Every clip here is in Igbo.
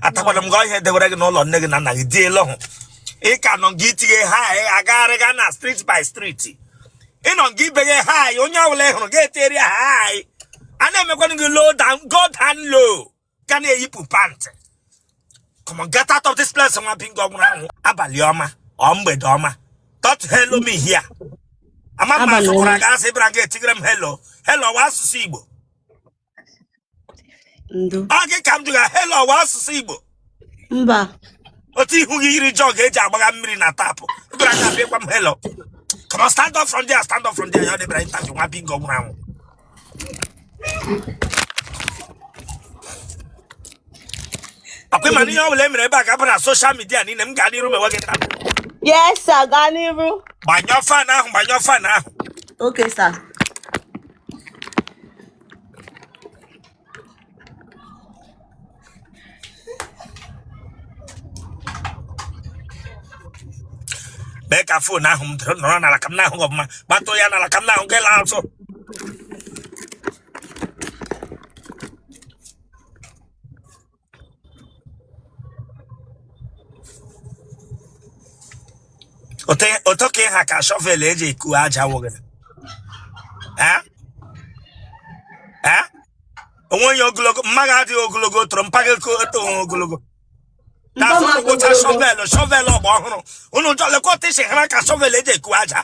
atakwara m gị ihe edewere gị n'ụlọ nne gị na nna gị dị elu hụ ị ka nọ gị itinye ha agagharịga na street by street ịnọ gị ibenye ha onye ọbụla hụrụ ga-eteri ha a na-emekwanụ gị low down go down low ka na-eyipụ pant come on get out of this place nwa bingo nwụrụ anwụ abalị ọma ọ mgbede ọma don't hello me here ama m asụkwara gị asị bịara gị etigere m hello hello wa asụsụ igbo ndo ọ gị ka m jụga helo ọwa asụsụ igbo mba otu ihu gị yiri jọg eji agbagha mmiri na tap ebere aka bịa gwa m helo come on stand up from there stand up from there ya ọ dị ị bịara interview nwa bingo nwụrụ anwụ akwa ịma na ihe ọ bụla e mere ebe a ga-abụ na soshal midia niile m gaa n'iru mewe gị taa yes sir gaa n'iru gbanyụọ fan ahụ gbanyụọ fan ahụ okay sir mee ka fon ahụ nọrọ n'ala ka m na-ahụ gị ọfụma gbatuo ya n'ala ka m na-ahụ gị laa azụ Otu ka ị ha ka shọvel eji eku aja wụ gịrị Eh? Eh? o nwe onye ogologo mma gị adịghị ogologo o toro mpa gị ko- eto onwe ogologo Mba m na-asụ adị ụcha ogologo. shọvel shọvel ọgbọ ọhụrụ unu jọ lekwa otu isi hara ka shọvel eji eku aja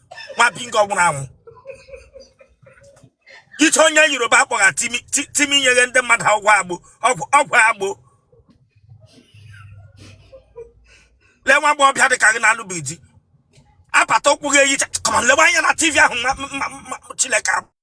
nwa bingo nwụrụ anwụ iche onye yoruba akpọgha timi nyeghe nde mmadụ ọgwụ agbo ọgwụ agbo lee nwa agbọghọbịa dị ka gị na-alụbeghị di apata ụkwụ gị eyi come on lewe anya na tv ahụ chineke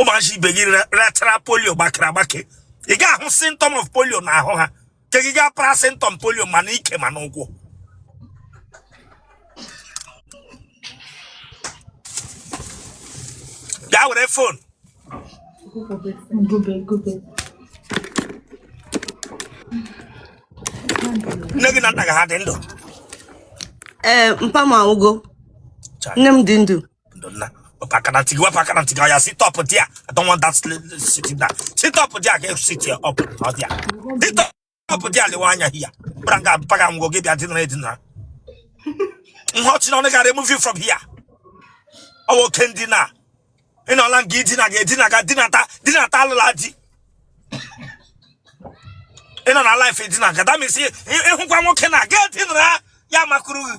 ụmụazị ibe gị rịachara polio gbakere agbake ị ga-ahụ symptom of polio n'ahụ ha ke gị gaa para symptom polio ma n'ike ma n'ụkwụ bịa were fon nne gị na nna gị ha dị ndụ ee mpa m anwụgo nne m dị ndụ ndo nna papa kana tigi wa papa kana tigi ya sit up there i don't want that sitting down sit up there i can sit up not there sit up up there lewe anya hia bịara nga mpa gị anwụgo gị bịa dinara edinara ihe ọchị n'ọnụ gị remove it from hia ọwa oke ndina ị nọla nga ị dinaga edinaga dinata dinata alụla di ị nọ na laif edinaga damisi ị hụkwa nwoke na ga edinara ya amakụrụ gị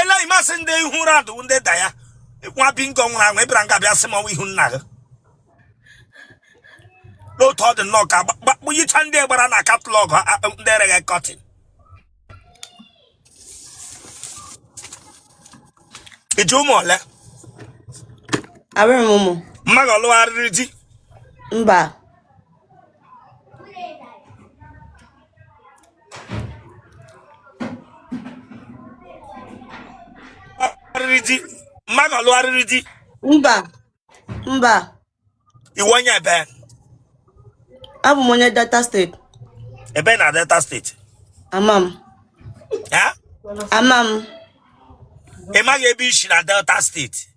ele imasị ndị ihu radụ ndị da ya nwa bingo nwụrụ anwụ ịbịara nga bịa sị m ọnwa ihu nna gị n'otu ọ dị nnọọ ka picture ndị gbara na katalọgụ ndị ereghị kọtin i ji ụmụ ole abụrụ m ụmụ mma gị ọ lụgharịrị di mba di mma gị ọ lụgharịrị di mba mba ị wụ onye ebe abụ m onye delta steeti ebe na delta steeti ama m ama m ị maghị ebe i shi na delta steeti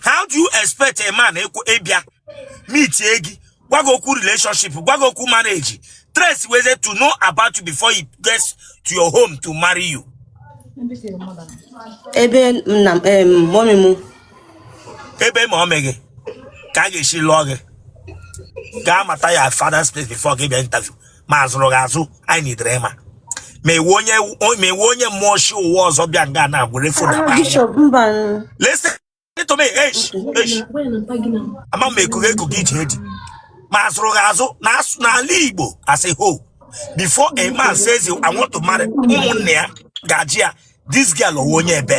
how do you expect a man ịbịa meetie gị gwa gị okwu relationship gwa gị okwu marriage trace ways to know about you before he gets to your home to marry you ebe nna mọmị m ebe mọmị gị ka a ga-esi lụọ gị gaa mata your father's place before gị abịa interview ma a zụrụ gị azụ anyị needire ịma ma ị wụ onye mmụọ shi ụwa ọzọ bịa nga na were fon Ah, Bishop Mban. listen to me eish eish ama m ekughe ekughe iji edi ma a zụrụ gị azụ n'ala igbo as a whole before a man says I want to marry ụmụnne ya ga-ajụ ya this girl ọ wụ onye ebe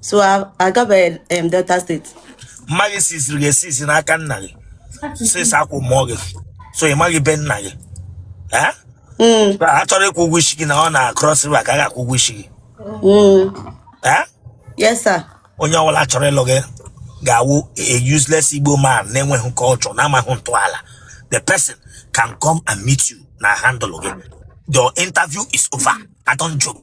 so ị gabeghị delta steeti mma gị siziri gị esizi n'aka nna gị since akwụ mụọ gị so ị maghị be nna gị Eh? Mm, a chọrọ ịkwụ ụgwọ isi gị na ọ na cross river ka a ga-akwụ ụgwọ isi gị mm. Eh? yes sir onye ọbụla chọrọ ịlụ gị ga-awụ a useless igbo man na-enweghị culture na-amaghị ntọala the person can come and meet you na handle gị your interview is over i don't joke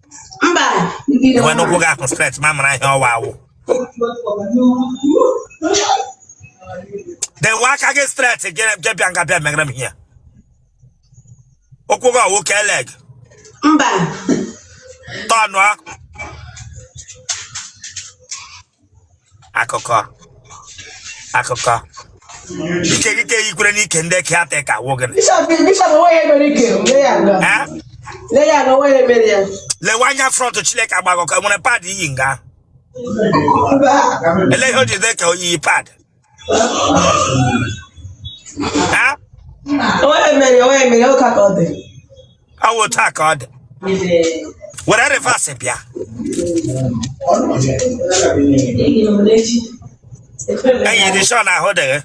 mba dewe ụkwụ gị ahụ straight ma mara ihe ọwa awụ dewe aka gị straight jebịa nga bịa megara m ihe ụkwụ gị ọ wụ k-leg mba tọnụọ akụkọ akụkọ ike ike ikwere n'ike ndị eke ata ka wụ gịnị lewe anya front Chineke agbaghọ ka were pad iyi nga ele ihe o ji dị ka o yi pad awụ taa ka ọ dị were reverse bịa enyi dị sure na ahụ dị gị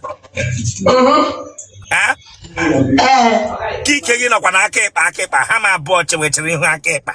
Eh? Ee, ka ike gị nọkwa na aka ịkpa aka ịkpa ha ma abụọ chewechiri ihu aka ịkpa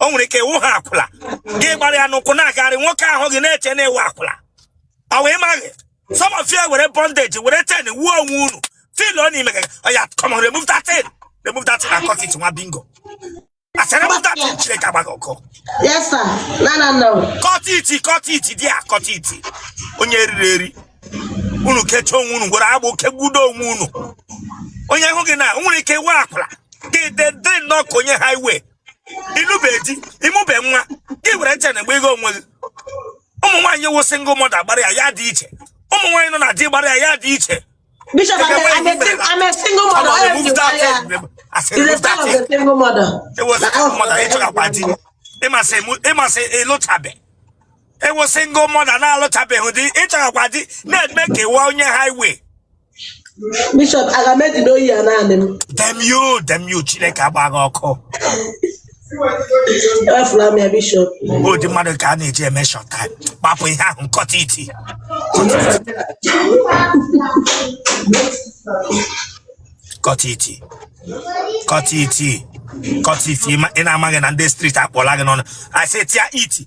o nwere ike ị wụgha akwụla gị gbara ya n'ụkwụ na-agagharị nwoke ahụ gị na-eche na ị wụ akwụla ọ wee maghị some of you were bondage were chain wuo onwe unu fil ọ n'ime gị oya come on remove that thing remove that thing and cut it nwa bingo I said remove that thing chineke agba gị ọkụ Yes, sir. No, no, no. cut it cut it there cut it onye riri eri unu kechaa onwe unu gwere agbụ kegbudo onwe unu onye hụ gị na o nwere ike ị wụ akwụla gị dị nnọọ ka onye highway ị lụbeghị di ị mụbe nwa gị were chain na-agba iga onwe gị ụmụ nwaanyị wụ single mother gbara ya ya dị iche ụmụ nwaanyị nọ na di gbara ya ya dị iche Bishop, I'm a, I'm a, sing- I'm a single mother. All of you are here. It's a sign of a single mother. ị ma sị ị lụtabe ị wụ single mother na-alụtabeghị di ị chọghịkwa di na-eme ka ị wụ onye highway Bishop aga m ejide oyi ya naanị m damn you damn you chineke agba gị ọkụ ewefula m ya bishop ụdị mmadụ ka a na-eji eme short time gbapụ ihe ahụ cut it cut it cut it cut it ị na-amaghị na ndị street akpọla gị n'ọnụ I said tear it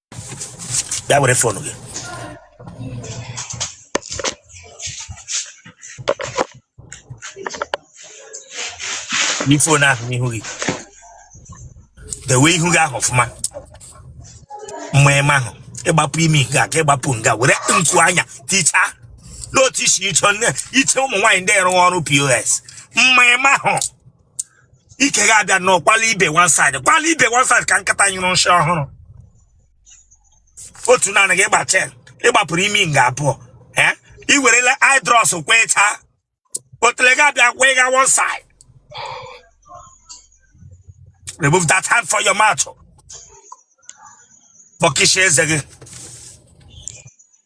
bịa were fon gị tinye fon ahụ n'ihu gị dewe ihu gị ahụ ọfụma mma eme ahụ ị gbapụ imi nke a ka ị gbapụ nga were nku anya tichaa n'otu isi iche nne iche ụmụ nwaanyị ndị rụrụ ọrụ POS mma eme ahụ ike gị abịa nọ kwala ibe one side kwala ibe one side ka nkịta nyụrụ nsị ọhụrụ otu naanị gị gba chain ị gbapụrụ imi nga abụọ eh? i werela idros kwee chaa otele gị abịa kwee ga one side remove that hand for your mouth bọkịsha eze gị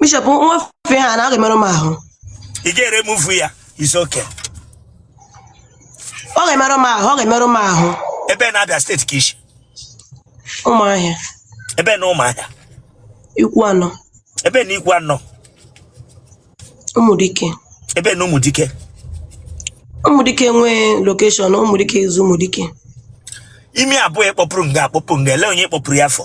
bishọp m wefu ha na ọ ga-emerụ m ahụ ị ga-eremove ya it's okay ọ ga-emerụ m ahụ ọ ga-emerụ m ahụ ebee n'abịa state ka i si ụmụahịa ebee n'ụmụahịa ikwuanọ ebee n'ikwuanọ ụmụdike ebee n'ụmụdike ụmụdike nwee location ụmụdike izu ụmụdike imi abụọ ị kpọpụrụ nga akpọpụ nga ele onye kpọpụrụ ya afọ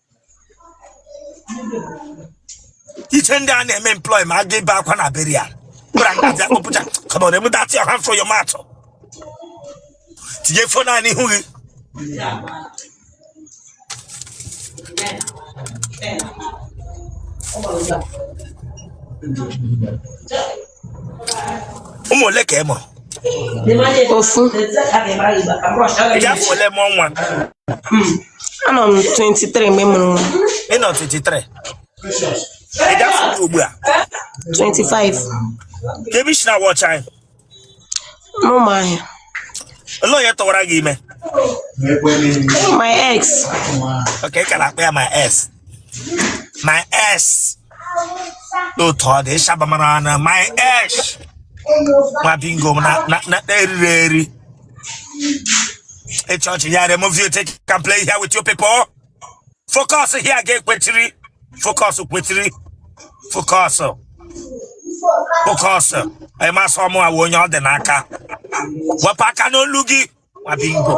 iche ndị a na-eme employ ma a ga ebe akwa na burial gbara ngaji akpụpụcha come on remove that your hand for your mouth tinye fon a n'ihu gị ụmụ ole ka ị mụrụ ofu ị gba afọ ole mụọ nwa anọ m 23 mgbe m mụrụ nwa ị nọ 23 ị gba afọ ole ugbu a 25 kee ebe i si na-awatch anyị n'ụmụahịa olee onye tụwara gị ime my ex ok ị ka na-akpọ ya my ex my ex n'otu ọ dị ịshabamara na my ex nwa bingo m na- na- na- na-eriri eri Hey, church, here, remove you, take, can play here with you people. Focus here, get kwetiri. Focus, kwetiri. Focus. Focus. Ẹ máa sọ ọmọ àwọn oyan ọdẹ n'aka. Wọ́n pa aka n'olu gị. Wà bí n bọ̀.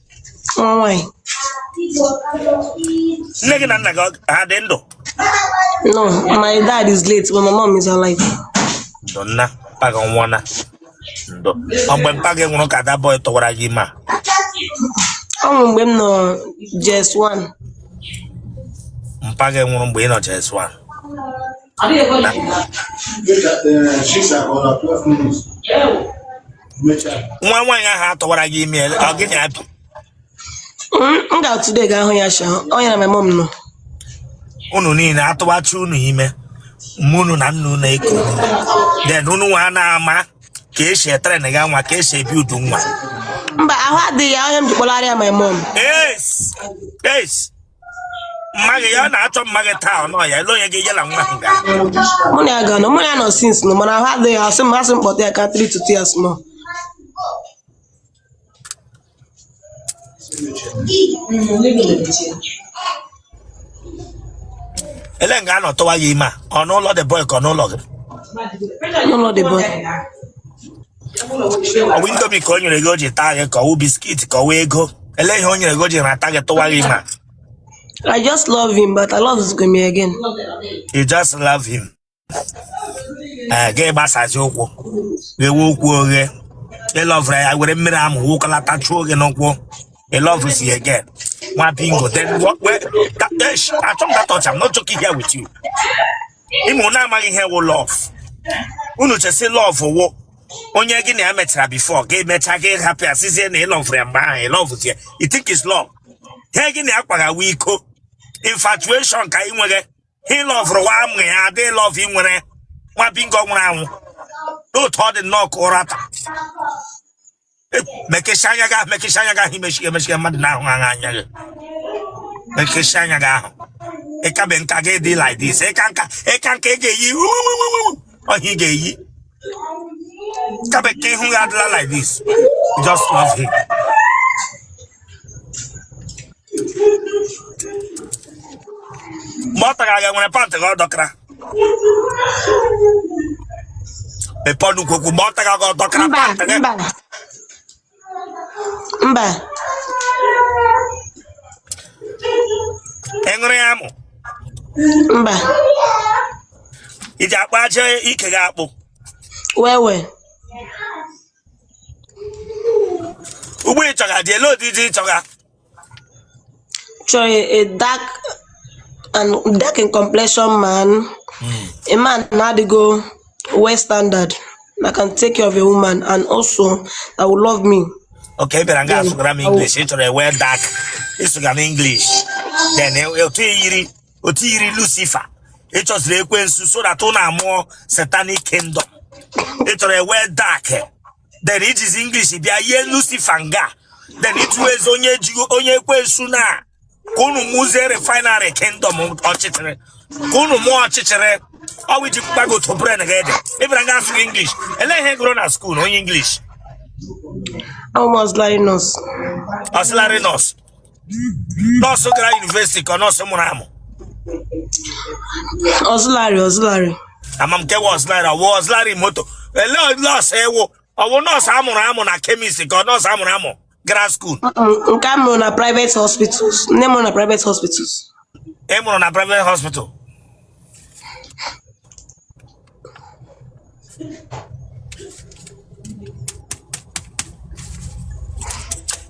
nne gị na nna gị ha dị ndụ no my dad is late but my mom is alive ndo na mpa gị anwụọna ndo ọ mgbe mpa gị nwụrụ ka that boy tụwara gị ime ọ nwụrụ mgbe m nọ JS 1 mpa gị nwụrụ mgbe ị nọ JS 1 She's at uh, 12 minutes. nwa nwaanyị ahụ a tụwara gị ime ọ gị na abi m ga-atụde ga ahụ ya sha ọ ya na my mom nọ unu niile a tụwacha unu ime mma unu na nna unu eko then unu nwa na-ama ka e si etrain ga nwa ka e si ebuild nwa mba ahụ adịghị ya ọ ihe m ji kpọlara ya my mom yes yes mma gị ya ọ na-achọ mma gị taa ọ nọ ya elee onye ga-enye na nwa ahụ gara mụ na ya ga nọ mụ na ya nọ since no mana ahụ adịghị asị m asị m kpọta ya ka 3 to 2 years more elee nga a nọ tụwa gị ime a ọ n'ụlọ the boy ka ọ n'ụlọ gị n'ụlọ the boy ọ wụ indomie ka o nyere gị o ji taa gị ka ọ wụ biscuit ka ọ wụ ego elee ihe o nyere gị o ji rata gị tụwa gị ime I just love him, but alọvụzighị m ya again. you just love him ee gị gbasazi ụkwụ ghewe ụkwụ oghe ị lọvụrụ ya were mmiri amụ wụkọlata chụọ gị n'ụkwụ ị lọvụzi again nwa bingo then what where that, eh, sh- achọ m that touch I'm not joking here with you ị ma unu amaghị ihe wụ love unu che sị love wụ onye gị na ya mechara before gị emecha gị ahapụ ya sịzie na ị lọvụrụ ya mgbe ahụ ị lọvụzie you think is love ihe gị na ya akwaghawa iko infatuation ka ị nwere ihe ị lọvụrụ wụ amụ ya adị love ị nwere nwa bingo nwụrụ anwụ n'otu ọ dị nnọọ ka ụra taa mekesịa anya gị ahụ mekesịa anya gị ahụ imechi emechi mmadụ na-ahụ anya anya gị mekesịa anya gị ahụ ị kabe nka gị dị like this ị kaa nka ị kaa nka ị ga-eyi ọhịa ị ga-eyi kabe ka ihu gị adịla like this just love him mgbe ọ tara aga nwere pantị ka ọ dọkara mepee ọnụ kwuo okwu mgbe ọ tara aga ọ dọkara mba pantị gị mba mba ị ṅụrụ ya amụ mba i ji akpa aja ike gị akpụ wewe ugbua ị chọga di ele ụdị di ị chọga chọrọ a dark and dark in complexion man a man na-adịgo well standard that can take care of a woman and also that will love me ok ị bịara nga asụgara m english ị chọrọ ewe dark ị sụga m english then otu i yiri otu i yiri lucifer ị chọziri ekwensu so that unu amụọ satanic kingdom ị chọrọ ewe dark then i jizi english bịa yie lucifer nga then ị chọwazi onye ojii onye ekwensu na ka unu mụzie refinery kingdom ọchịchịrị ka unu mụọ ọchịchịrị ọ wụ i ji gbagoto brain gị dị ị bịara nga asụga english ele ihe ị gụrụ na school onye english Auxiliary nurse. auxiliary nurse nurse gara university ka ọ nurse mụrụ amụ auxiliary auxiliary ama m nke wụ auxiliary ọ wụ auxiliary moto ele nurse ị wụ ọ wụ nurse a mụrụ amụ na chemist ka ọ nurse a mụrụ amụ gara school Mm-mm, nke a mụrụ na private hospitals nne mụrụ na private hospitals ị mụrụ na private hospital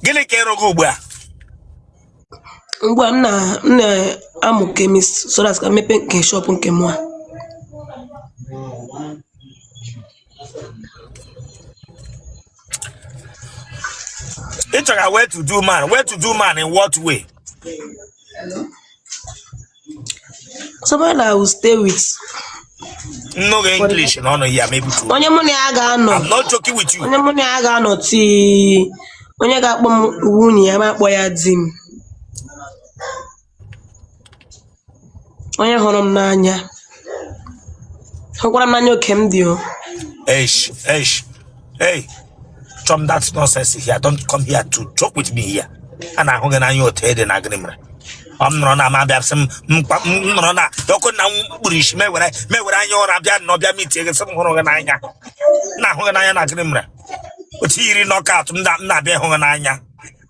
gịnị ka ị rụga ugbu a Ugbu a m na m na-amụ chemist so that ka m mepee nke shop nke mụ a. ị chọrọ well to do man well to do man in what way Somebody that I will stay with. No English, no, no, yeah, maybe two. Onye mụ na ya ga-anọ. I'm not joking with you. Onye mụ na ya ga-anọ tii. Onye ga-akpọ m nwunye ya mụ akpọọ ya di m. Onye hụrụ m n'anya. Hụkwara m n'anya oke m dị o. Eish, eish, hey, shun that nonsense here. Don't come here to joke with me here. A na-ahụ gị n'anya otu ị dị na gịnị mere. Ọ m nọrọ na ma bịa sị m mkpa m nọrọ na ọkụ na m kpuru isi m were m were anya ụra bịa n'ụwa bịa meetie gị sị m hụrụ gị n'anya. M na-ahụ gị n'anya na gịnị mere. Otu i yiri knockout m na- m na-abịa ịhụ gị n'anya.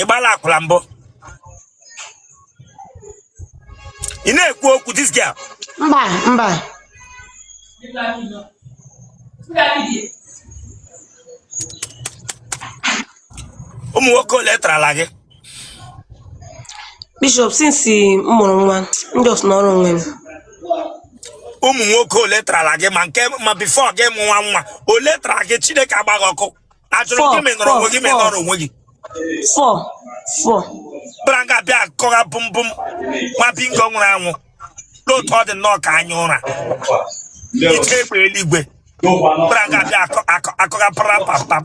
ị gbala akwụla mbụ ị na-ekwu okwu this girl mba mba ụmụ nwoke ole tarala gị Bishop since m mụrụ nwa m just nọrọ onwe m ụmụ nwoke ole tarala gị ma nke ma before gị mụ nwa nwa ole tara gị chineke agba gị ọkụ a jụrụ gị ma ị nọrọ onwe gị ma ị nọrọ onwe gị fọ fọ branga bịa akọgha bụmbụm nwa bingo nwụrụ anwụ n'otu ọ dị nnọọ ka anya ụra ike egbe eluigwe branga bịa akọgha parapapam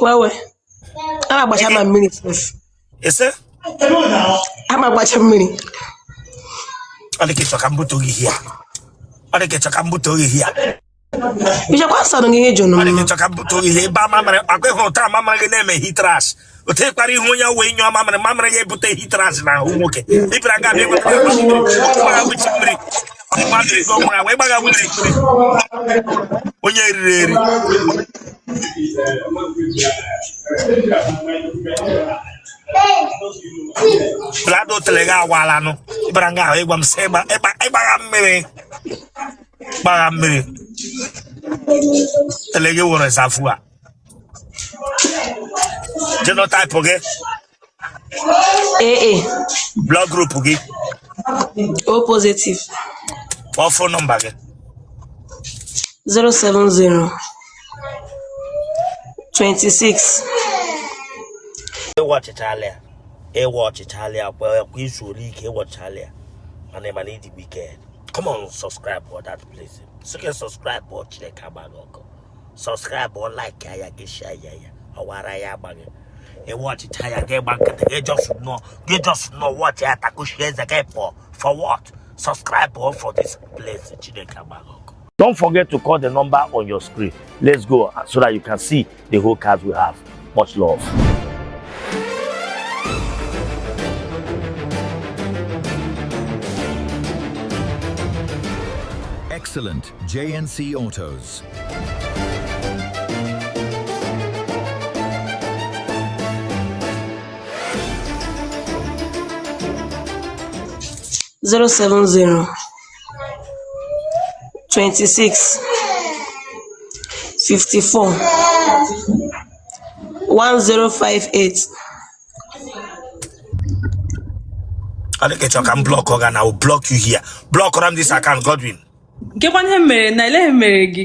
Wewe. A na-agbacha ma mmiri sef. ese A na-agbacha mmiri. ọ dị ka ị chọ ka m bute oge ihe a ọ dị ka ị chọ ka m bute oge ihe a Ichekwa nsọ nụ gị ihe jụrụ ọ dị ka m. ị chọ ka m bute oge ihe ebe a mamịrị akwa ịhụ ụta a mamịrị gị na-eme heat rash otu ịkpara ihe onye wee nyụọ mamịrị mamịrị ya ebute heat rash n'ahụ nwoke ị bịara nga a bịa nweta gbagha wuchi mmiri mmadụ ego nwụrụ wee gbagha wuchi mmiri onye riri eri plado otele gị awalanụ ị bara nga ahụ ị gwa m sị ị gbagha mmiri gbagha mmiri otele gị wụrụ ịsafụ a genotype gị AA blood group gị O positive kpọọ phone number gị 070 26 ị watchịchala ya ị watchịchala ya kwa kwa i zuole ike ị watchịchala ya mana ị ma na ị dị wicked come on subscribe for that place sị gị subscribe ọ chineke agba gị ọkụ subscribe or like ya gị share ya ya ọwara ya agba gị ị watchịcha ya gị gba nkịtị gị just nọ gị just nọ watchị ya takuchie eze gị pụọ for what subscribe ọ for this place chineke agba gị ọkụ Don't forget to call the number on your screen. Let's go so that you can see the whole cars we have. Much love. excellent. JNC Autos. zero seven zero twenty six fifty four one zero five eight. Adekechọ ka m blọkụ gị na I will block you here. Blọkụra m this account Godwin. Nkekwa ihe mere na eleghị mere gị.